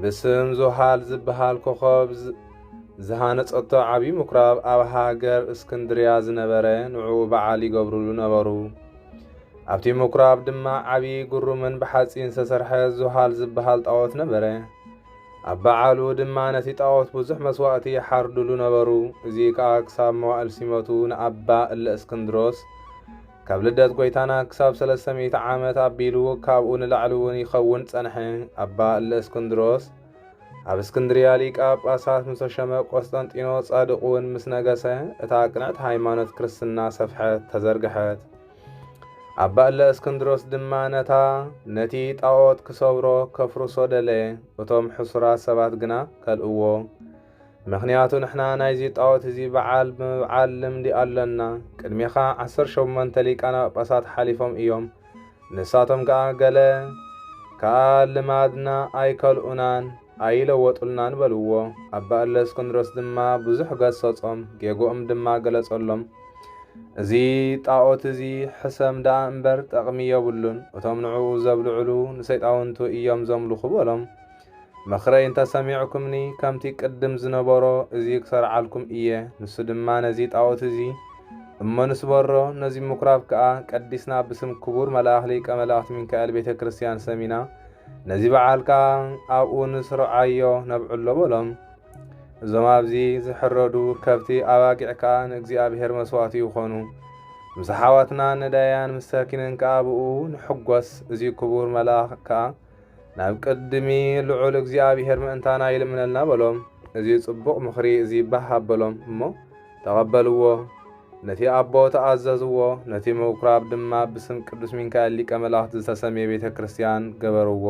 ብስም ዞሃል ዝበሃል ኮኸብ ዝሃነጸቶ ዓብዪ ምኩራብ ኣብ ሃገር እስክንድርያ ዝነበረ ንዑ በዓል ይገብሩሉ ነበሩ። ኣብቲ ምኩራብ ድማ ዓብዪ ግሩምን ብሓጺን ዝተሰርሐ ዞሃል ዝበሃል ጣዖት ነበረ። ኣብ በዓሉ ድማ ነቲ ጣዖት ብዙሕ መስዋእቲ ይሓርድሉ ነበሩ። እዚ ከኣ ክሳብ መዋእል ሲመቱ ንኣባ እለ እስክንድሮስ ካብ ልደት ጐይታና ክሳብ ሰለስተ ሚእቲ ዓመት ኣቢሉ ካብኡ ንላዕሊ እውን ይኸውን ጸንሐ። ኣባ እለእስክንድሮስ ኣብ እስክንድርያ ሊቀ ጳጳሳት ምስ ተሸመ ቆስጠንጢኖ ጻድቕ እውን ምስ ነገሰ እታ ቅንዕቲ ሃይማኖት ክርስትና ሰፍሐት፣ ተዘርግሐት። ኣባ እለ እስክንድሮስ ድማ ነታ ነቲ ጣዖት ክሰብሮ ከፍርሶ ደለየ፣ እቶም ሕሱራት ሰባት ግና ከልእዎ። ምኽንያቱ ንሕና ናይዚ ጣዖት እዚ በዓል ብምብዓል ልምዲ ኣሎና። ቅድሜኻ ዓሰርተ ሸሞንተ ሊቃነ ጳጳሳት ሓሊፎም እዮም፣ ንሳቶም ከኣ ገለ ከኣ ልማድና ኣይከልኡናን፣ ኣይለወጡልናን በልዎ። ኣባ እለእስክንድሮስ ድማ ብዙሕ ገሰጾም፣ ጌግኦም ድማ ገለጸሎም። እዚ ጣዖት እዚ ሕሰም ደኣ እምበር ጠቕሚ የብሉን፣ እቶም ንዕኡ ዘብልዕሉ ንሰይጣውንቱ እዮም ዘምልኹ በሎም። ምኽረይ እንተ ሰሚዕኩምኒ፣ ከምቲ ቅድም ዝነበሮ እዚ ክሰርዓልኩም እየ፣ ንሱ ድማ ነዚ ጣኦት እዚ እሞ ንስበሮ፣ ነዚ ምኵራብ ከኣ ቀዲስና ብስም ክቡር መልኣኽ ሊቀ መላእኽት ሚካኤል ቤተ ክርስቲያን ሰሚና፣ ነዚ በዓል ከኣ ኣብኡ ንስርዓዮ ነብዕሎ በሎም። እዞም ኣብዚ ዝሕረዱ ከብቲ ኣባጊዕ ከኣ ንእግዚኣብሔር መስዋእቲ ይኾኑ። ምስ ኣሓዋትና ነዳያን ምስ ሰኪንን ከኣ ብኡ ንሕጐስ፣ እዚ ክቡር መልኣኽ ከኣ ናብ ቅድሚ ልዑል እግዚኣብሄር ምእንታና ይልምነልና በሎም። እዚ ጽቡቕ ምኽሪ እዚ ባህ ኣበሎም እሞ ተቐበልዎ። ነቲ ኣቦ ተኣዘዝዎ፣ ነቲ ምኵራብ ድማ ብስም ቅዱስ ሚካኤል ሊቀ መላእኽት ዝተሰምየ ቤተ ክርስቲያን ገበርዎ።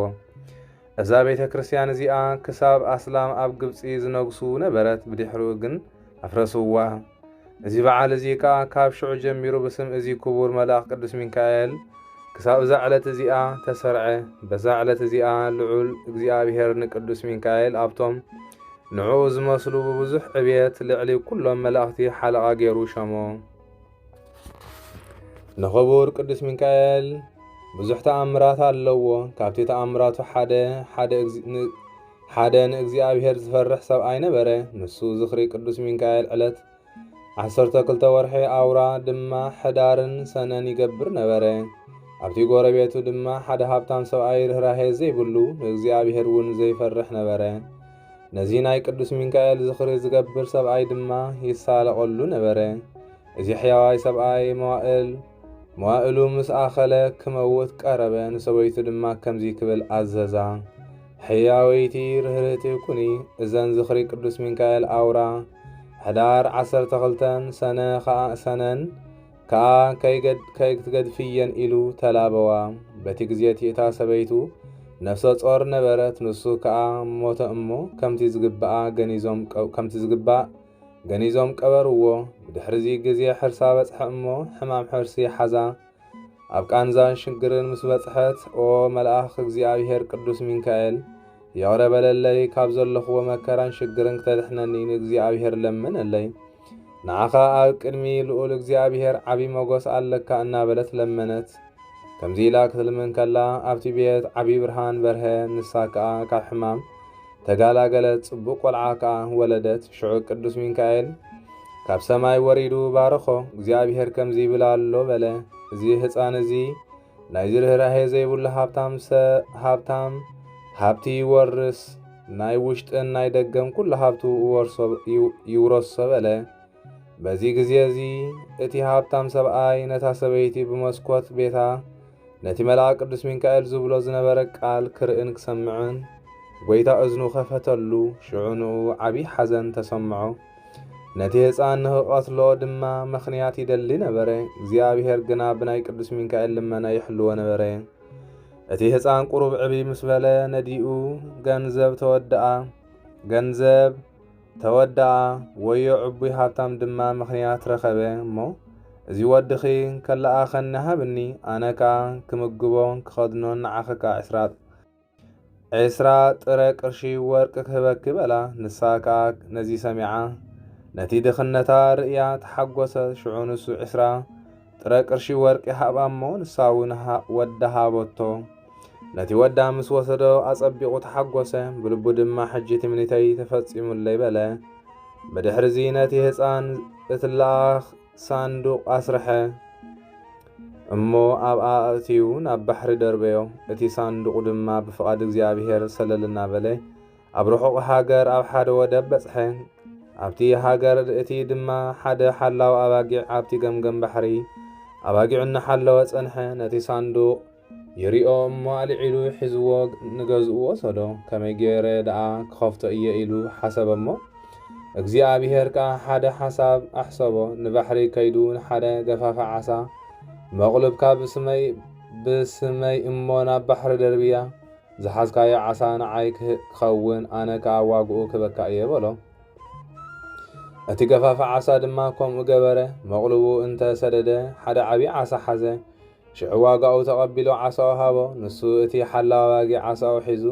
እዛ ቤተ ክርስቲያን እዚኣ ክሳብ ኣስላም ኣብ ግብጺ ዝነግሱ ነበረት፣ ብድሕሪኡ ግን ኣፍረስዋ። እዚ በዓል እዚ ከኣ ካብ ሽዑ ጀሚሩ ብስም እዚ ክቡር መልኣኽ ቅዱስ ሚካኤል ክሳብ እዛ ዕለት እዚኣ ተሰርዐ። በዛ ዕለት እዚኣ ልዑል እግዚኣብሔር ንቅዱስ ሚካኤል ኣብቶም ንዕኡ ዝመስሉ ብብዙሕ ዕብየት ልዕሊ ኩሎም መላእኽቲ ሓለቓ ገይሩ ሸሞ። ንኽቡር ቅዱስ ሚካኤል ብዙሕ ተኣምራት ኣለዎ። ካብቲ ተኣምራቱ ሓደ ሓደ ንእግዚኣብሔር ዝፈርሕ ሰብኣይ ነበረ። ንሱ ዝኽሪ ቅዱስ ሚካኤል ዕለት ዓሰርተ ክልተ ወርሒ ኣውራ ድማ ሕዳርን ሰነን ይገብር ነበረ። ኣብቲ ጎረቤቱ ድማ ሓደ ሃብታም ሰብኣይ ርኅራሄ ዘይብሉ ንእግዚኣብሔር እውን ዘይፈርሕ ነበረ። ነዚ ናይ ቅዱስ ሚካኤል ዝኽሪ ዝገብር ሰብኣይ ድማ ይሳለቐሉ ነበረ። እዚ ሕያዋይ ሰብኣይ መዋእል መዋእሉ ምስ ኣኸለ ክመውት ቀረበ። ንሰበይቱ ድማ ከምዚ ክብል ኣዘዛ፣ ሕያወይቲ ርህርቲ ኩኒ። እዘን ዝኽሪ ቅዱስ ሚካኤል ኣውራ ሕዳር ዓሰርተ ክልተን ሰነ ኸኣ ሰነን ከኣ ከይትገድፍየን ኢሉ ተላበዋ። በቲ ግዜቲ እታ ሰበይቱ ነፍሰ ጾር ነበረት፣ ንሱ ከኣ ሞተ እሞ ከምቲ ዝግባእ ገኒዞም ቀበርዎ። ብድሕርዚ ግዜ ሕርሳ በጽሐ እሞ ሕማም ሕርሲ ሓዛ። ኣብ ቃንዛን ሽግርን ምስ በጽሐት ኦ መልኣኽ እግዚኣብሔር ቅዱስ ሚካኤል ይቕረ በለለይ ካብ ዘለኹዎ መከራን ሽግርን ክተድሕነኒ ንእግዚኣብሔር ለምነለይ ንዓኻ ኣብ ቅድሚ ልኡል እግዚኣብሄር ዓቢ ሞገስ ኣለካ እናበለት ለመነት። ከምዚ ኢላ ክትልምን ከላ ኣብቲ ቤት ዓቢ ብርሃን በርሀ፣ ንሳ ከኣ ካብ ሕማም ተጋላገለት፣ ጽቡቕ ቆልዓ ከኣ ወለደት። ሽዑ ቅዱስ ሚካኤል ካብ ሰማይ ወሪዱ ባረኾ። እግዚኣብሄር ከምዚ ይብል ኣሎ በለ፣ እዚ ህጻን እዚ ናይዚ ርህራሄ ዘይብሉ ሃብታም ሰ ሃብታም ሃብቲ ይወርስ ናይ ውሽጥን ናይ ደገን ኩሉ ሃብቱ ይውረሶ በለ። በዚ ግዜ እዚ እቲ ሃብታም ሰብኣይ ነታ ሰበይቲ ብመስኮት ቤታ ነቲ መልኣክ ቅዱስ ሚካኤል ዝብሎ ዝነበረ ቃል ክርእን ክሰምዕን ጐይታ እዝኑ ከፈተሉ። ሽዑ ንኡ ዓብዪ ሓዘን ተሰምዖ። ነቲ ህፃን ንክቐትሎ ድማ ምኽንያት ይደሊ ነበረ። እግዚኣብሔር ግና ብናይ ቅዱስ ሚካኤል ልመና ይሕልዎ ነበረ። እቲ ህፃን ቁሩብ ዕቢ ምስ በለ ነዲኡ ገንዘብ ተወድኣ ገንዘብ ተወድኣ ወዮ ዕቡይ ሃብታም ድማ ምኽንያት ረኸበ እሞ እዚ ወድኺ ከለኣኸኒ ሃብኒ ኣነ ከዓ ክምግቦን ክኸድኖን ንዓኽካ ዕስራ ዕስራ ጥረ ቅርሺ ወርቂ ክህበኪ በላ። ንሳ ከኣ ነዚ ሰሚዓ ነቲ ድኽነታ ርእያ ተሓጎሰት። ሽዑ ንሱ ዕስራ ጥረ ቅርሺ ወርቂ ሃባ እሞ ንሳ እውን ወዳ ሃበቶ። ነቲ ወዳ ምስ ወሰዶ ኣጸቢቑ ተሓጎሰ። ብልቡ ድማ ሕጂ ትምኒተይ ተፈጺሙለይ በለ። ብድሕርዚ ነቲ ህፃን እትለኣኽ ሳንዱቕ ኣስርሐ። እሞ ኣብኣ ኣእትዩ ናብ ባሕሪ ደርበዮ። እቲ ሳንዱቕ ድማ ብፍቓድ እግዚኣብሄር ሰለል እናበለ ኣብ ርሑቕ ሃገር ኣብ ሓደ ወደብ በጽሐ። ኣብቲ ሃገር እቲ ድማ ሓደ ሓላው ኣባጊዕ ኣብቲ ገምገም ባሕሪ ኣባጊዑ እናሓለወ ጸንሐ። ነቲ ሳንዱቕ ይሪኦ እሞ ኣልዒሉ ሒዝዎ ንገዝኡ ወሰዶ። ከመይ ገይረ ደኣ ክኸፍቶ እየ ኢሉ ሓሰበ እሞ እግዚኣብሄር ከኣ ሓደ ሓሳብ ኣሕሰቦ። ንባሕሪ ከይዱ ንሓደ ገፋፊ ዓሳ መቕሉብካ ብስመይ ብስመይ እሞ ናብ ባሕሪ ደርብያ፣ ዝሓዝካዮ ዓሳ ንዓይ ክኸውን ኣነ ከኣ ዋግኡ ክበካ እየ በሎ። እቲ ገፋፊ ዓሳ ድማ ከምኡ ገበረ። መቕሉቡ እንተ ሰደደ ሓደ ዓብዪ ዓሳ ሓዘ። ሽዑ ዋጋኡ ተቐቢሉ ዓሳኡ ሃቦ። ንሱ እቲ ሓላው ኣባጊዕ ዓሳኡ ሒዙ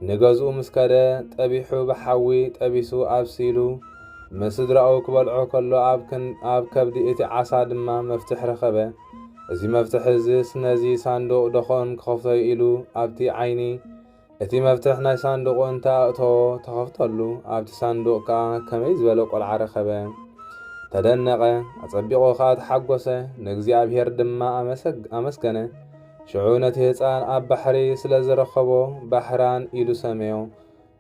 ንገዝኡ ምስ ከደ፣ ጠቢሑ ብሓዊ ጠቢሱ ኣብሲሉ ምስ ስድራኡ ክበልዖ ከሎ ኣብ ከብዲ እቲ ዓሳ ድማ መፍትሕ ረኸበ። እዚ መፍትሕ እዝስ ነዚ ሳንዱቕ ደኾን ክኸፍቶ'ዩ ኢሉ ኣብቲ ዓይኒ እቲ መፍትሕ ናይ ሳንዱቑ እንተ ኣእተዎ ተኸፍተሉ፣ ኣብቲ ሳንዱቕ ከኣ ከመይ ዝበለ ቈልዓ ረኸበ! ተደነቐ፣ ኣጸቢቑ ኸኣ ተሓጐሰ፣ ንእግዚኣብሄር ድማ ኣመሰግ ኣመስገነ። ሽዑ ነቲ ህጻን ኣብ ባሕሪ ስለ ዝረኸቦ ባህራን ኢሉ ሰመዮ፣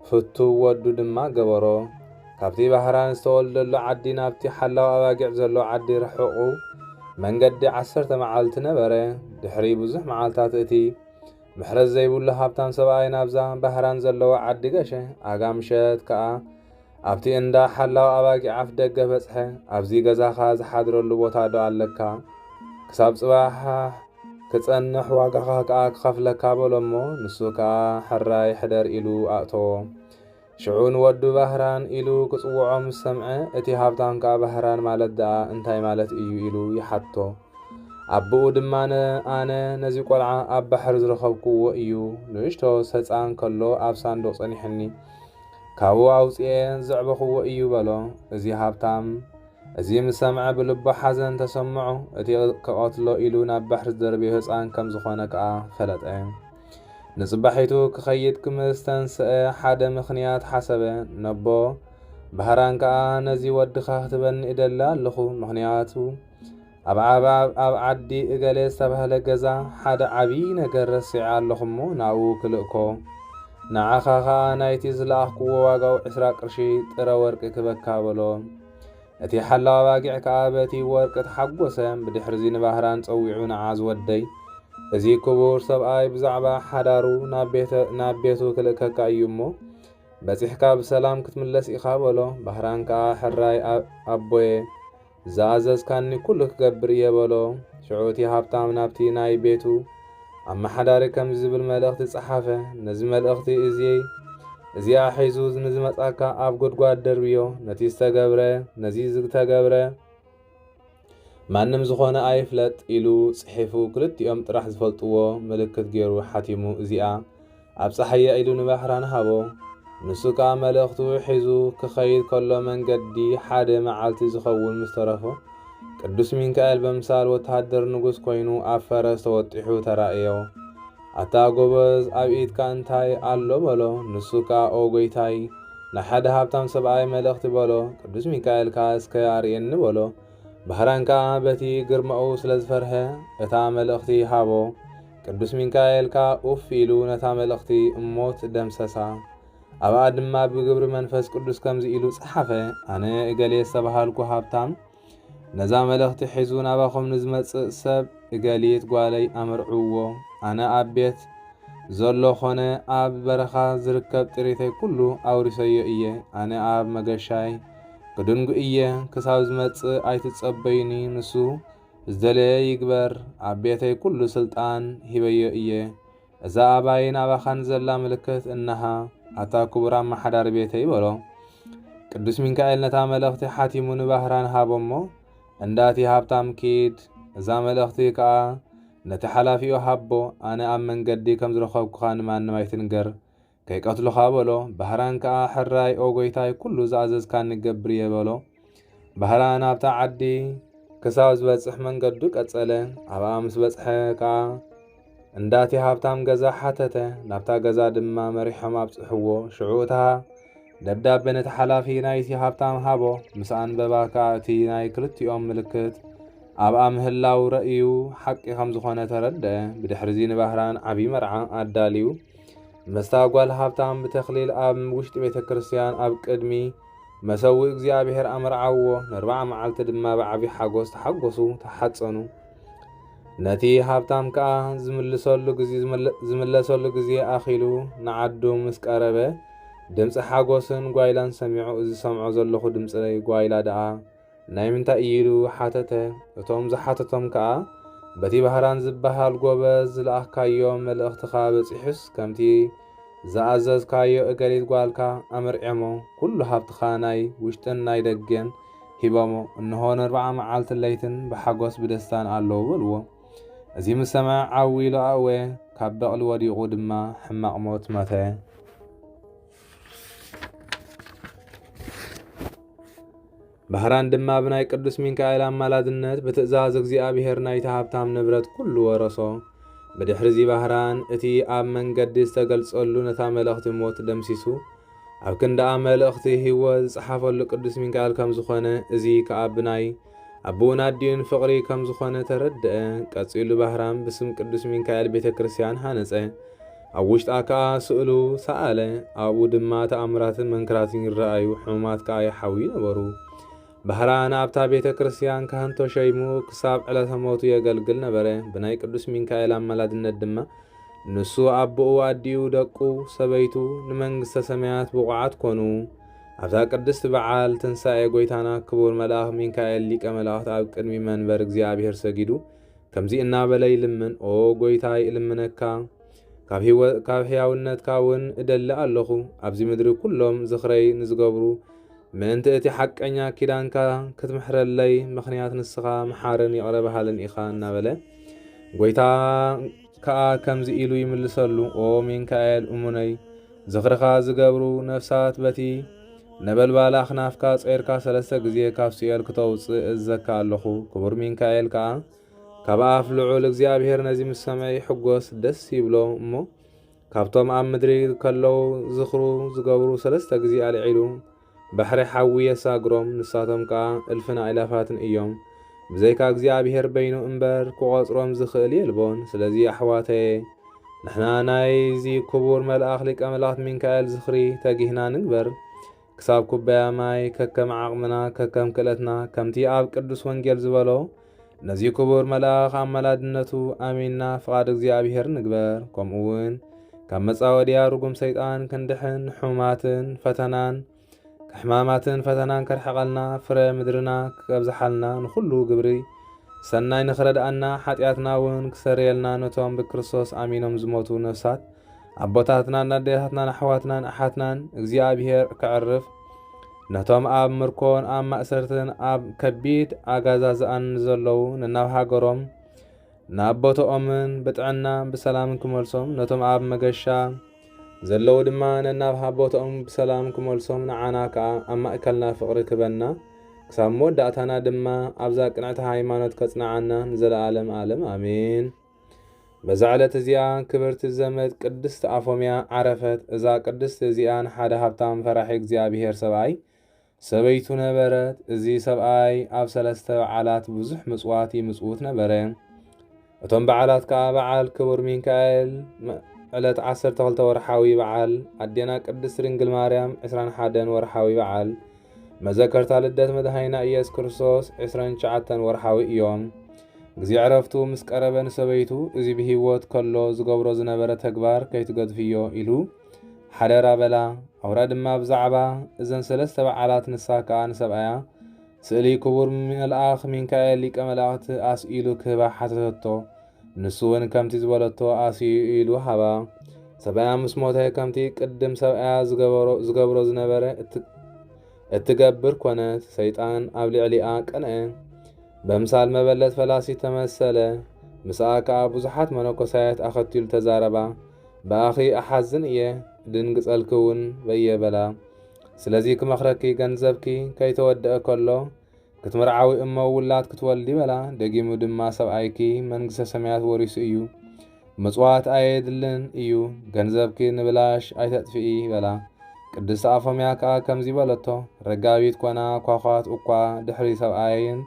ፍቱው ወዱ ድማ ገበሮ። ካብቲ ባህራን ዝተወልደሉ ዓዲ ናብቲ ሓላው ኣባጊዕ ዘሎ ዓዲ ርሑቑ መንገዲ ዓሰርተ መዓልቲ ነበረ። ድሕሪ ብዙሕ መዓልታት እቲ ምሕረት ዘይብሉ ሃብታም ሰብኣይ ናብዛ ባህራን ዘለዎ ዓዲ ገሸ። ኣጋ ምሸት ከኣ ኣብቲ እንዳ ሓላው ኣባጊዕ ኣፍ ደገ በጽሐ። ኣብዚ ገዛኻ ዝሓድረሉ ቦታ ዶ ኣለካ? ክሳብ ጽባሕ ክጸንሕ ዋጋኻ ከኣ ክኸፍለካ በሎ እሞ ንሱ ከኣ ሕራይ ሕደር ኢሉ ኣእተዎ። ሽዑ ንወዱ ባህራን ኢሉ ክጽውዖ ምስ ሰምዐ፣ እቲ ሃብታም ከኣ ባህራን ማለት ደኣ እንታይ ማለት እዩ ኢሉ ይሓትቶ። ኣቦኡ ድማነ ኣነ ነዚ ቆልዓ ኣብ ባሕሪ ዝረኸብኩዎ እዩ፣ ንእሽቶ ሰጻን ከሎ ኣብ ሳንዱቕ ጸኒሑኒ፣ ካብኡ ኣውጺኤ ዘዕበኹዎ እዩ በሎ። እዚ ሃብታም እዚ ምስ ሰምዐ ብልቡ ሓዘን ተሰምዖ፣ እቲ ክቐትሎ ኢሉ ናብ ባሕሪ ዝደርበዮ ህጻን ከም ዝኾነ ከኣ ፈለጠ። ንጽባሒቱ ክኸይድ ክምዝተንስኣ ሓደ ምኽንያት ሓሰበ። ነቦ ባህራን ከኣ ነዚ ወድኻ ክትበኒ እደሊ ኣሎኹ፣ ምኽንያቱ ኣብ ዓዲ እገሌ ዝተባህለ ገዛ ሓደ ዓቢ ነገር ረሲዐ ኣሎኹ'ሞ ናብኡ ክልእኮ፣ ንዓኻ ከኣ ናይቲ ዝለኣኽኩዎ ዋጋኡ ዕስራ ቅርሺ ጥረ ወርቂ ክበካ በሎ። እቲ ሓላው ኣባጊዕ ከኣ በቲ ወርቂ ተሓጐሰ። ብድሕርዚ ንባህራን ጸዊዑ ንዓዝ ወደይ፣ እዚ ክቡር ሰብኣይ ብዛዕባ ሓዳሩ ናብ ቤቱ ክልእከካ እዩ እሞ፣ በጺሕካ ብሰላም ክትምለስ ኢኻ በሎ። ባህራን ከኣ ሕራይ ኣቦየ፣ ዝኣዘዝካኒ ኵሉ ክገብር እየ በሎ። ሽዑ እቲ ሃብታም ናብቲ ናይ ቤቱ ኣመሓዳሪ ከምዚ ዝብል መልእኽቲ ጸሓፈ፣ ነዚ መልእኽቲ እዚይ እዚኣ ሒዙ ንዝመጻካ ኣብ ጉድጓድ ደርብዮ፣ ነቲ ዝተገብረ ነዚ ዝተገብረ ማንም ዝኾነ ኣይፍለጥ ኢሉ ጽሒፉ ክልቲኦም ጥራሕ ዝፈልጥዎ ምልክት ጌሩ ሓቲሙ እዚኣ ኣብጽሓያ ኢሉ ንባሕራን ሃቦ። ንሱ ከኣ መልእኽቱ ሒዙ ክኸይድ ከሎ መንገዲ ሓደ መዓልቲ ዝኸውን ምስ ተረፎ፣ ቅዱስ ሚንካኤል በምሳል ወተሃደር ንጉስ ኮይኑ ኣብ ፈረስ ተወጢሑ ተራእዮ። ኣታ ጎበዝ ኣብ ኢድካ እንታይ ኣሎ በሎ። ንሱ ከኣ ኦ ጎይታይ ናይ ሓደ ሃብታም ሰብኣይ መልእኽቲ በሎ። ቅዱስ ሚካኤል ከኣ እስከ ኣርእየኒ በሎ። ባህራን ከኣ በቲ ግርማኡ ስለ ዝፈርሀ እታ መልእኽቲ ሃቦ። ቅዱስ ሚካኤል ከኣ ኡፍ ኢሉ ነታ መልእኽቲ እሞት ደምሰሳ። ኣብኣ ድማ ብግብሪ መንፈስ ቅዱስ ከምዚ ኢሉ ጸሓፈ፣ ኣነ እገሌ ዝተባሃልኩ ሃብታም ነዛ መልእኽቲ ሒዙ ናባኹም ንዝመጽእ ሰብ እገሊት ጓለይ ኣምርዕዎ፣ ኣነ ኣብ ቤት ዘሎ ኾነ ኣብ በረኻ ዝርከብ ጥሪተይ ኩሉ ኣውሪሰዮ እየ ኣነ ኣብ መገሻይ ክድንጉ እየ ክሳብ ዝመጽእ ኣይትጸበዩኒ ንሱ ዝደለየ ይግበር ኣብ ቤተይ ኩሉ ስልጣን ሂበዮ እየ እዛ ኣባይን ኣባኻን ዘላ ምልክት እነሃ ኣታ ክቡር ኣመሓዳሪ ቤተይ በሎ ቅዱስ ሚካኤል ነታ መልእኽቲ ሓቲሙ ንባህራን ሃቦሞ እንዳቲ ሃብታም ኪድ እዛ መልእኽቲ ከኣ ነቲ ሓላፊኡ ሃቦ ኣነ ኣብ መንገዲ ከም ዝረኸብኩኻ ንማንም ኣይትንገር ከይቀትሉኻ በሎ። ባህራን ከኣ ሕራይ ኦ ጐይታይ ኩሉ ዝኣዘዝካኒ ክገብር እየ በሎ። ባህራን ኣብታ ዓዲ። ክሳብ ዝበጽሕ መንገዱ ቀጸለ። ኣብኣ ምስ በጽሐ ከኣ እንዳቲ ሃብታም ገዛ ሓተተ። ናብታ ገዛ ድማ መሪሖም ኣብጽሕዎ። ሽዑ እታ ደብዳቤ ነቲ ሓላፊ ናይቲ ሃብታም ሃቦ። ምስ ኣንበባ ከኣ እቲ ናይ ክልቲኦም ምልክት ኣብኣ ምህላው ረእዩ ሓቂ ከም ዝኾነ ተረድአ። ብድሕርዚ ንባህራን ዓቢ መርዓ ኣዳልዩ። ምስታ ጓል ሃብታም ብተኽሊል ኣብ ውሽጢ ቤተ ክርስቲያን ኣብ ቅድሚ መሰዊ እግዚኣብሔር ኣመርዓዎ ንርባዓ መዓልቲ ድማ ብዓብዪ ሓጎስ ተሓጎሱ ተሓጸኑ ነቲ ሃብታም ከኣ ዝምልሰሉ ግዜ ዝምለሰሉ ግዜ ኣኺሉ ንዓዱ ምስ ቀረበ ድምፂ ሓጎስን ጓይላን ሰሚዑ እዚ ሰምዖ ዘለኹ ድምፂ ጓይላ ደኣ ናይ ምንታይ እዩ ኢሉ ሓተተ። እቶም ዝሓተቶም ከኣ በቲ ባህራን ዝበሃል ጎበዝ ዝለኣኽካዮ መልእኽትኻ በጺሑስ ከምቲ ዝኣዘዝካዮ እገሊት ጓልካ ኣመርዕዮሞ ኩሉ ሃብትኻ ናይ ውሽጥን ናይ ደገን ሂቦሞ እንሆ ነርብዓ መዓልትን ለይትን ብሓጎስ ብደስታን ኣለዉ በልዎ። እዚ ምስ ሰምዐ ዓው ኢሉ ኣእወየ ካብ በቕሊ ወዲቑ ድማ ሕማቕ ሞት መተ። ባህራን ድማ ብናይ ቅዱስ ሚካኤል ኣማላድነት ብትእዛዝ እግዚኣብሔር ናይቲ ሃብታም ንብረት ኩሉ ወረሶ። ብድሕሪዚ ባህራን እቲ ኣብ መንገዲ ዝተገልጸሉ ነታ መልእኽቲ ሞት ደምሲሱ ኣብ ክንዳኣ መልእኽቲ ህይወት ዝጸሓፈሉ ቅዱስ ሚካኤል ከም ዝኾነ እዚ ከኣ ብናይ ኣቡኡን ኣዲኡን ፍቕሪ ከም ዝኾነ ተረድኣ። ቀጺሉ ባህራም ብስም ቅዱስ ሚካኤል ቤተ ክርስቲያን ሃነጸ። ኣብ ውሽጣ ከኣ ስእሉ ሰኣለ። ኣብኡ ድማ ተኣምራትን መንክራትን ይረኣዩ፣ ሕሙማት ከኣ ይሓውዩ ነበሩ። ባህራን ኣብታ ቤተ ክርስቲያን ካህን ተሸይሙ ክሳብ ዕለተ ሞቱ የገልግል ነበረ። ብናይ ቅዱስ ሚካኤል ኣማላድነት ድማ ንሱ ኣቦኡ ኣዲኡ ደቁ ሰበይቱ ንመንግስተ ሰማያት ብቑዓት ኮኑ። ኣብዛ ቅድስቲ በዓል ትንሣኤ ጐይታና ክቡር መልኣኽ ሚካኤል ሊቀ መላእኽት ኣብ ቅድሚ መንበር እግዚኣብሔር ሰጊዱ ከምዚ እናበለ ይልምን ኦ ጐይታይ እልምነካ ካብ ሕያውነትካ እውን እደሊ ኣለኹ ኣብዚ ምድሪ ኩሎም ዝኽረይ ንዝገብሩ ምእንቲ እቲ ሓቀኛ ኪዳንካ ክትምሕረለይ ምኽንያት ንስኻ መሓርን ይቕረ በሃልን ኢኻ እናበለ ጐይታ ከኣ ከምዚ ኢሉ ይምልሰሉ፣ ኦ ሚንካኤል እሙነይ፣ ዝኽርኻ ዝገብሩ ነፍሳት በቲ ነበልባል ኣኽናፍካ ጾይርካ ሰለስተ ግዜ ካብ ሲኦል ክተውጽእ እእዝዘካ ኣለኹ። ክቡር ሚንካኤል ከኣ ካብ ኣፍ ልዑል እግዚኣብሔር ነዚ ምስ ሰምዐ ይሕጎስ፣ ደስ ይብሎ እሞ፣ ካብቶም ኣብ ምድሪ ከለዉ ዝኽሩ ዝገብሩ ሰለስተ ግዜ ኣልዒሉ፣ ባሕሪ ሓዊ የሳግሮም ንሳቶም ከኣ እልፍን ኣእላፋትን እዮም ብዘይካ እግዚኣብሄር በይኑ እምበር ክቆጽሮም ዝኽእል የልቦን ስለዚ ኣሕዋተየ ንሕና ናይዚ ክቡር መልኣኽ ሊቀ መላእክት ሚንካኤል ዝኽሪ ተጊህና ንግበር ክሳብ ኩባያ ማይ ከከም ዓቕምና ከከም ክእለትና ከምቲ ኣብ ቅዱስ ወንጌል ዝበሎ ነዚ ክቡር መልኣኽ ኣመላድነቱ ኣሚንና ፍቓድ እግዚኣብሔር ንግበር። ከምኡውን ካብ መጻወድያ ርጉም ሰይጣን ክንድሕን ሕማትን ፈተናን ሕማማትን ፈተናን ከርሕቐልና ፍረ ምድርና ክቀብዝሓልና ንኹሉ ግብሪ ሰናይ ንኽረድኣና ሓጢኣትና እውን ክሰርየልና ነቶም ብክርስቶስ ኣሚኖም ዝሞቱ ነፍሳት ኣቦታትናን ኣዴታትናን ኣሕዋትናን ኣሓትናን እግዚኣብሔር ከዕርፍ ነቶም ኣብ ምርኮን ኣብ ማእሰርትን ኣብ ከቢድ ኣጋዛዝኣን ንዘለዉ ንናብ ሃገሮም ናብ ቦትኦምን ብጥዕና ብሰላም ክመልሶም ነቶም ኣብ መገሻ ዘለዉ ድማ ነናብ ቦትኦም ብሰላም ክመልሶም ንዓና ከኣ ኣብ ማእከልና ፍቕሪ ክበና ክሳብ መወዳእታና ድማ ኣብዛ ቅንዕቲ ሃይማኖት ከጽንዓና ንዘለኣለም ኣለም ኣሜን። በዛ ዕለት እዚኣ ክብርቲ ዘመድ ቅድስት ኣፎምያ ዓረፈት። እዛ ቅድስት እዚኣ ንሓደ ሃብታም ፈራሒ እግዚኣብሔር ሰብኣይ ሰበይቱ ነበረት። እዚ ሰብኣይ ኣብ ሰለስተ በዓላት ብዙሕ ምጽዋት ይምጽውት ነበረ። እቶም በዓላት ከዓ በዓል ክቡር ሚካኤል ዕለት 12 ወርሓዊ በዓል ኣዴና ቅድስት ድንግል ማርያም 21 ወርሓዊ በዓል መዘከርታ ልደት መድኃኒና ኢየሱስ ክርስቶስ ዕስራን ትሽዓተን ወርሓዊ እዮም። ግዜ ዕረፍቱ ምስ ቀረበ ንሰበይቱ እዚ ብህይወት ከሎ ዝገብሮ ዝነበረ ተግባር ከይትገድፍዮ ኢሉ ሓደራ በላ። ኣውራ ድማ ብዛዕባ እዘን ሰለስተ በዓላት ንሳ ከኣ ንሰብኣያ ስእሊ ክቡር መልኣኽ ሚካኤል ሊቀ መላእኽቲ ኣስኢሉ ክህባ ሓተተቶ። ንሱውን ከምቲ ዝበለቶ ኣስይኡ ኢዱ ሃባ። ሰብኣያ ምስ ሞተ ከምቲ ቅድም ሰብኣያ ዝገብሮ ዝነበረ እትገብር ኮነት። ሰይጣን ኣብ ልዕሊኣ ቀንዐ። በምሳል መበለት ፈላሲት ተመሰለ። ምስኣ ከኣ ብዙሓት መነኮሳያት ኣኸቲሉ ተዛረባ። ብኣኺ እሓዝን እየ እድንግጸልኪ እውን በየ በላ። ስለዚ ክመኽረኪ ገንዘብኪ ከይተወደኣ ከሎ ክትምርዓዊ እሞ ውላድ ክትወልዲ በላ። ደጊሙ ድማ ሰብኣይኪ መንግስተ ሰማያት ወሪሱ እዩ፣ ምጽዋት ኣየድልን እዩ፣ ገንዘብኪ ንብላሽ ኣይተጥፍኢ በላ። ቅድስቲ ኣፎምያ ከኣ ከምዚ በለቶ፣ ረጋቢት ኮና ኳዃት እኳ ድሕሪ ሰብኣየን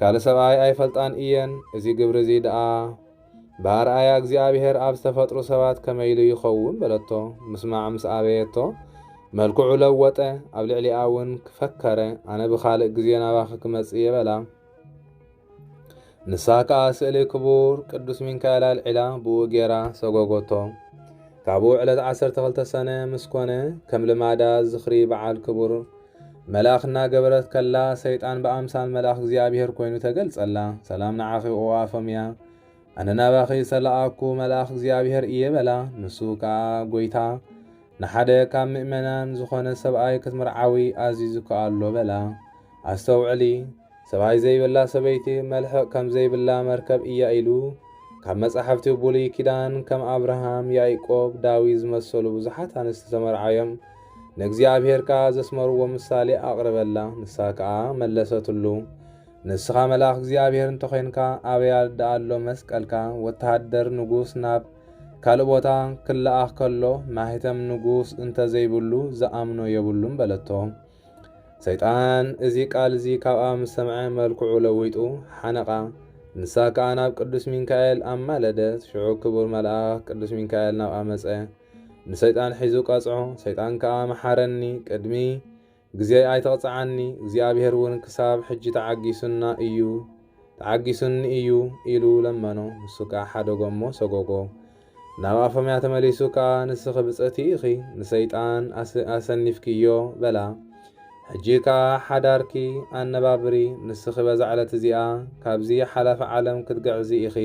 ካልእ ሰብኣይ ኣይፈልጣን እየን፣ እዚ ግብሪ እዚ ደኣ ብኣርኣያ እግዚኣብሔር ኣብ ዝተፈጥሩ ሰባት ከመይ ኢሉ ይኸውን? በለቶ። ምስማዕ ምስ ኣበየቶ፣ መልክዑ ለወጠ፣ ኣብ ልዕሊኣ እውን ክፈከረ፣ ኣነ ብኻልእ ግዜ ናባኺ ክመጽእ እየ በላ። ንሳ ከኣ ስእሊ ክቡር ቅዱስ ሚካኤል ኣልዒላ ብኡ ጌራ ሰጎጎቶ። ካብኡ ዕለት ዓሰርተ ክልተ ሰነ ምስ ኮነ ከም ልማዳ ዝኽሪ በዓል ክቡር መልኣኽ እናገበረት ከላ ሰይጣን ብኣምሳል መልኣኽ እግዚኣብሔር ኮይኑ ተገልጸላ። ሰላም ንዓኺ ኦ ኣፎምያ፣ ኣነ ናባኺ ዝተላኣኩ መልኣኽ እግዚኣብሔር እየ በላ። ንሱ ከኣ ጎይታ ንሓደ ካብ ምእመናን ዝኾነ ሰብኣይ ክትምርዓዊ ኣዚዙኪ ኣሎ በላ። ኣስተውዕሊ! ሰብኣይ ዘይብላ ሰበይቲ መልሕቕ ከም ዘይብላ መርከብ እያ ኢሉ ካብ መጻሕፍቲ ቡሉይ ኪዳን ከም ኣብርሃም ያኢቆብ ዳዊት ዝመሰሉ ብዙሓት ኣንስቲ ተመርዓዮም ንእግዚኣብሄር ከኣ ዘስመርዎ ምሳሌ ኣቕረበላ ንሳ ከኣ መለሰትሉ ንስኻ መልኣኽ እግዚኣብሄር እንተኾይንካ ኣበይ ደኣ ኣሎ መስቀልካ ወተሃደር ንጉስ ናብ ካልእ ቦታ ክለኣኽ ከሎ ማህተም ንጉስ እንተ ዘይብሉ ዝኣምኖ የብሉን በለቶ ሰይጣን እዚ ቃል እዚ ካብኣ ምስ ሰምዐ መልክዑ ለዊጡ ሓነቓ። ንሳ ከኣ ናብ ቅዱስ ሚካኤል ኣማለደት። ሽዑ ክቡር መልኣኽ ቅዱስ ሚካኤል ናብኣ መጸ። ንሰይጣን ሒዙ ቀጽዖ። ሰይጣን ከኣ መሓረኒ፣ ቅድሚ ግዜይ ኣይተቕጽዓኒ፣ እግዚኣብሔር እውን ክሳብ ሕጂ ተዓጊሱና እዩ ተዓጊሱኒ እዩ ኢሉ ለመኖ። ንሱ ከኣ ሓደጎ እሞ ሰጎጎ። ናብ ኣፎምያ ተመሊሱ ከኣ ንስኺ ብጽእቲ ኢኺ ንሰይጣን ኣሰኒፍክዮ በላ። ሕጂ ከኣ ሓዳርኪ ኣነባብሪ ንስኺ በዛ ዕለት እዚኣ ካብዚ ሓላፊ ዓለም ክትግዕዚ ኢኺ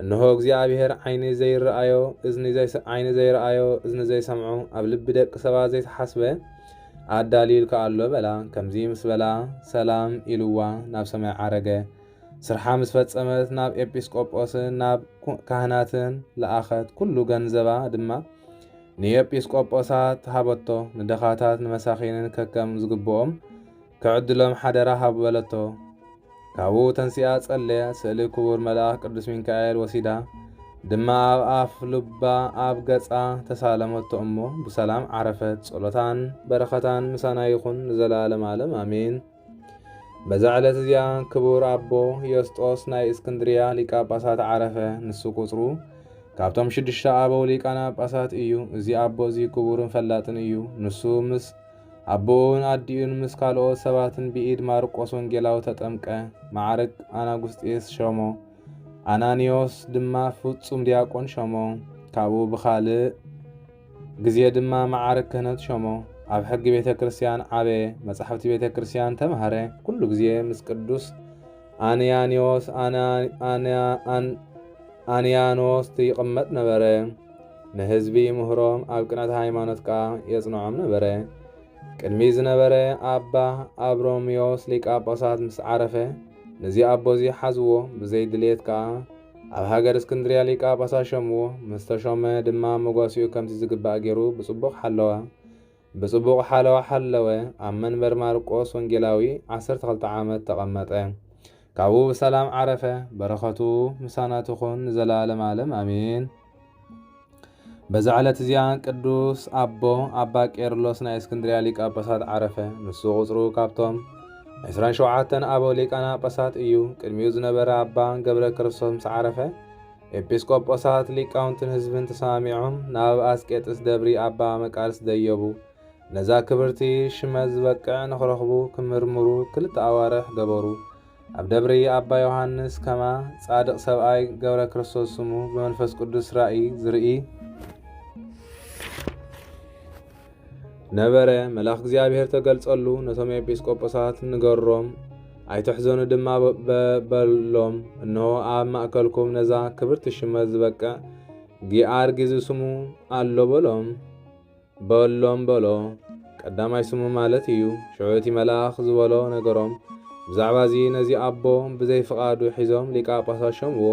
እንሆ እግዚኣብሄር ዓይኒ ዘይረኣዮ እዝኒ ዓይኒ ዘይረኣዮ እዝኒ ዘይሰምዖ ኣብ ልቢ ደቂ ሰባት ዘይተሓስበ ኣዳልዩልኪ ኣሎ በላ። ከምዚ ምስ በላ ሰላም ኢልዋ ናብ ሰማይ ዓረገ። ስርሓ ምስ ፈጸመት ናብ ኤጲስቆጶስን ናብ ካህናትን ለኣኸት፣ ኵሉ ገንዘባ ድማ ንኤጲስቆጶሳት ሃበቶ፣ ንድኻታት ንመሳኪንን ከከም ዝግብኦም ክዕድሎም ሓደራ ሃቡ በለቶ። ካብኡ ተንሲኣ ጸለየት፣ ስእሊ ክቡር መልኣኽ ቅዱስ ሚካኤል ወሲዳ ድማ ኣብ ኣፍ ልባ ኣብ ገጻ ተሳለመቶ እሞ ብሰላም ዓረፈት። ጸሎታን በረኸታን ምሳና ይኹን ንዘለዓለም ዓለም ኣሜን። በዛ ዕለት እዚኣ ክቡር ኣቦ ዮስጦስ ናይ እስክንድርያ ሊቀ ጳጳሳት ዓረፈ። ንሱ ቁጽሩ ካብቶም ሽዱሽተ ኣበው ሊቃነ ጳጳሳት እዩ። እዚ ኣቦ እዚ ክቡርን ፈላጥን እዩ። ንሱ ምስ ኣቦኡን ኣዲኡን ምስ ካልኦት ሰባትን ብኢድ ማርቆስ ወንጌላዊ ተጠምቀ። ማዕርግ ኣናጉስጤስ ሸሞ፣ ኣናኒዮስ ድማ ፍጹም ዲያቆን ሸሞ። ካብኡ ብኻልእ ግዜ ድማ መዓርግ ክህነት ሾሞ። ኣብ ሕጊ ቤተ ክርስቲያን ዓበየ፣ መጻሕፍቲ ቤተ ክርስቲያን ተማህረ፣ ኩሉ ግዜ ምስ ቅዱስ ኣንያንዮስ ኣንያኖስት ይቕመጥ ነበረ፣ ንህዝቢ ይምህሮም፣ ኣብ ቅነተ ሃይማኖት ከኣ የጽንዖም ነበረ። ቅድሚ ዝነበረ ኣባ ኣብሮምዮስ ሊቃ ጳጳሳት ምስ ዓረፈ፣ ነዚ ኣቦዚ ሓዝዎ፣ ብዘይ ድልየት ከኣ ኣብ ሃገር እስክንድርያ ሊቀ ጳጳሳት ሸምዎ፣ ምስ ተሾመ ድማ መጓሲኡ ከምቲ ዝግባእ ገይሩ ብጽቡቕ ሓለዋ። ብጽቡቕ ሓለዋ ሓለወ፣ ኣብ መንበር ማርቆስ ወንጌላዊ ዓሰርተ ክልተ ዓመት ተቐመጠ። ካብኡ ብሰላም ዓረፈ። በረኸቱ ምሳና ትኹን ንዘለዓለም ዓለም ኣሜን። በዛ ዕለት እዚኣ ቅዱስ ኣቦ ኣባ ቄርሎስ ናይ እስክንድርያ ሊቀ ጳጳሳት ዓረፈ። ንሱ ቁጽሩ ካብቶም 27 ኣበው ሊቃነ ጳጳሳት እዩ። ቅድሚኡ ዝነበረ ኣባ ገብረ ክርስቶስ ምስ ዓረፈ ኤጲስቆጶሳት ሊቃውንትን ህዝብን ተሰማሚዖም ናብ ኣስቄጥስ ደብሪ ኣባ መቃርስ ደየቡ። ነዛ ክብርቲ ሽመት ዝበቅዕ ንኽረኽቡ ክምርምሩ ክልተ ኣዋርሕ ገበሩ። ኣብ ደብሪ ኣባ ዮሃንስ ከማ ጻድቕ ሰብኣይ ገብረ ክርስቶስ ስሙ ብመንፈስ ቅዱስ ራእይ ዝርኢ ነበረ። መልኣኽ እግዚኣብሔር ተገልጸሉ፣ ነቶም ኤጲስቆጶሳት ንገሮም፣ ኣይትሕዘኑ ድማ በሎም። እነሆ ኣብ ማእከልኩም ነዛ ክብርቲ ሽመት ዝበቅዕ ጊኣርጊ ዝስሙ ኣሎ በሎም። በሎም በሎ። ቀዳማይ ስሙ ማለት እዩ። ሽዑ እቲ መልኣኽ ዝበሎ ነገሮም። ብዛዕባ እዚ ነዚ ኣቦ ብዘይ ፍቓዱ ሒዞም ሊቃ ጳሳስ ሸምዎ።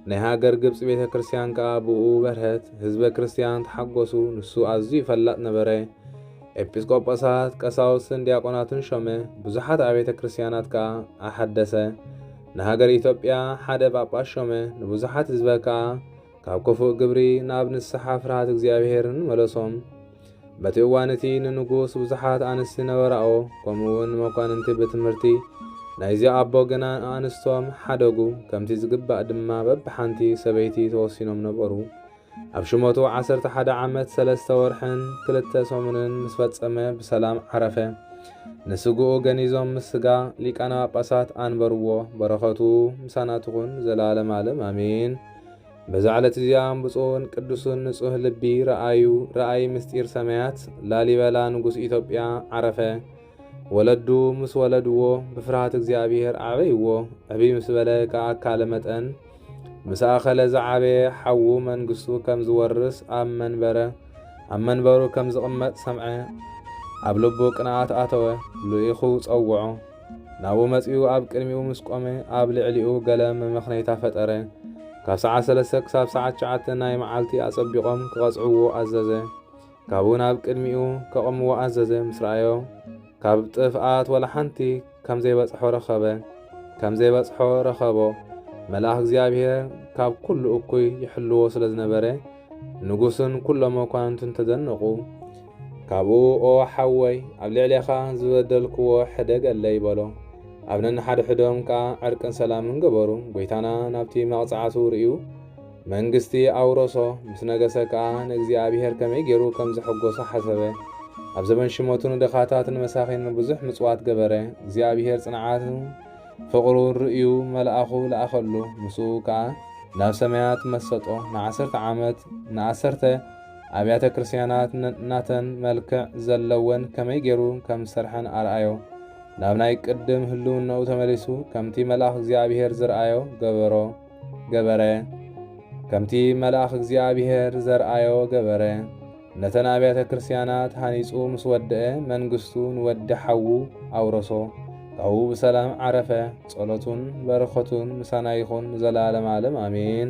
ናይ ሃገር ግብጺ ቤተ ክርስቲያን ከኣ ብእኡ በርሀት፣ ህዝበ ክርስቲያን ተሓጎሱ፣ ንሱ ኣዝዩ ፈላጥ ነበረ። ኤጲስቆጶሳት፣ ቀሳውስትን ዲያቆናትን ሾመ፣ ብዙሓት ኣብያተ ክርስቲያናት ከኣ ኣሐደሰ። ንሃገር ኢትዮጵያ ሓደ ጳጳስ ሾመ፣ ንብዙሓት ህዝበ ከኣ ካብ ክፉእ ግብሪ ናብ ንስሓ ፍርሃት እግዚኣብሔርን መለሶም። በቲ እዋን እቲ ንንጉስ ብዙሓት ኣንስቲ ነበራኦ፣ ከምኡ እውን መኳንንቲ ብትምህርቲ ናይዚ ኣቦ ግና ኣንስቶም ሓደጉ፣ ከምቲ ዝግባእ ድማ በብሓንቲ ሰበይቲ ተወሲኖም ነበሩ። ኣብ ሽመቱ ዓሰርተ ሓደ ዓመት ሰለስተ ወርሕን ክልተ ሰሙንን ምስ ፈጸመ ብሰላም ዓረፈ። ንስግኡ ገኒዞም ምስ ስጋ ሊቃነ ጳጳሳት ኣንበርዎ። በረኸቱ ምሳና ትኹን ዘላለም ዓለም ኣሜን። በዛ ዕለት እዚኣ ብፁዕን ቅዱስን ንጹህ ልቢ ረኣዩ ረኣይ ምስጢር ሰማያት ላሊበላ ንጉስ ኢትዮጵያ ዓረፈ። ወለዱ ምስ ወለድዎ ብፍርሃት እግዚኣብሔር ኣዕበይዎ። ዕብይ ምስ በለ ከኣካለ መጠን ምስ ኣኸለ ዝዓበየ ሓዉ መንግስቱ ከም ዝወርስ ኣብ መንበረ ኣብ መንበሩ ከም ዝቕመጥ ሰምዐ። ኣብ ልቡ ቅንኣት ኣተወ፣ ልኢኹ ጸውዖ። ናብኡ መጺኡ ኣብ ቅድሚኡ ምስ ቆመ፣ ኣብ ልዕሊኡ ገለ መመኽነይታ ፈጠረ። ካብ ሰዓት ሰለስተ ክሳብ ሰዓት ትሽዓተ ናይ መዓልቲ ኣጸቢቖም ክቐጽዕዎ ኣዘዘ። ካብኡ ናብ ቅድሚኡ ከቕምዎ ኣዘዘ። ምስ ረኣዮ፣ ካብ ጥፍኣት ዋላ ሓንቲ ከም ዘይበጽሖ ረኸበ። ከም ዘይበጽሖ ረኸቦ። መልኣኽ እግዚኣብሄር ካብ ኩሉ እኩይ ይሕልዎ ስለ ዝነበረ፣ ንጉስን ኩሎም መኳንንቱን ተደነቑ። ካብኡ ኦ ሓወይ ኣብ ልዕሌኻ ዝበደልክዎ ሕደገለይ በሎ። ኣብ ነንሓድሕዶም ከኣ ዕርቅን ሰላምን ገበሩ። ጐይታና ናብቲ መቕጻዕቱ ርእዩ መንግስቲ ኣውረሶ። ምስ ነገሰ ከኣ ንእግዚኣብሔር ከመይ ገይሩ ከም ዘሐጐሶ ሓሰበ። ኣብ ዘበን ሽመቱ ንድኻታት ንመሳኺንን ብዙሕ ምጽዋት ገበረ። እግዚኣብሔር ጽንዓቱን ፍቕሩን ርእዩ መልኣኹ ለኣኸሉ። ምስኡ ከኣ ናብ ሰማያት መሰጦ። ንዓሰርተ ዓመት ንኣሰርተ ኣብያተ ክርስቲያናት ነናተን መልክዕ ዘለወን ከመይ ገይሩ ከም ዝሰርሐን ኣርኣዮ። ናብ ናይ ቅድም ህልውናኡ ተመሊሱ ከምቲ መልኣኽ እግዚኣብሔር ዝርኣዮ ገበሮ ገበረ ከምቲ መልኣኽ እግዚኣብሔር ዘርኣዮ ገበረ። ነተን ኣብያተ ክርስቲያናት ሃኒጹ ምስ ወደአ መንግስቱ ንወዲ ሓዉ ኣውረሶ። ካብኡ ብሰላም ዓረፈ። ጸሎቱን በረኸቱን ምሳና ይኹን ንዘለዓለም ዓለም ኣሜን።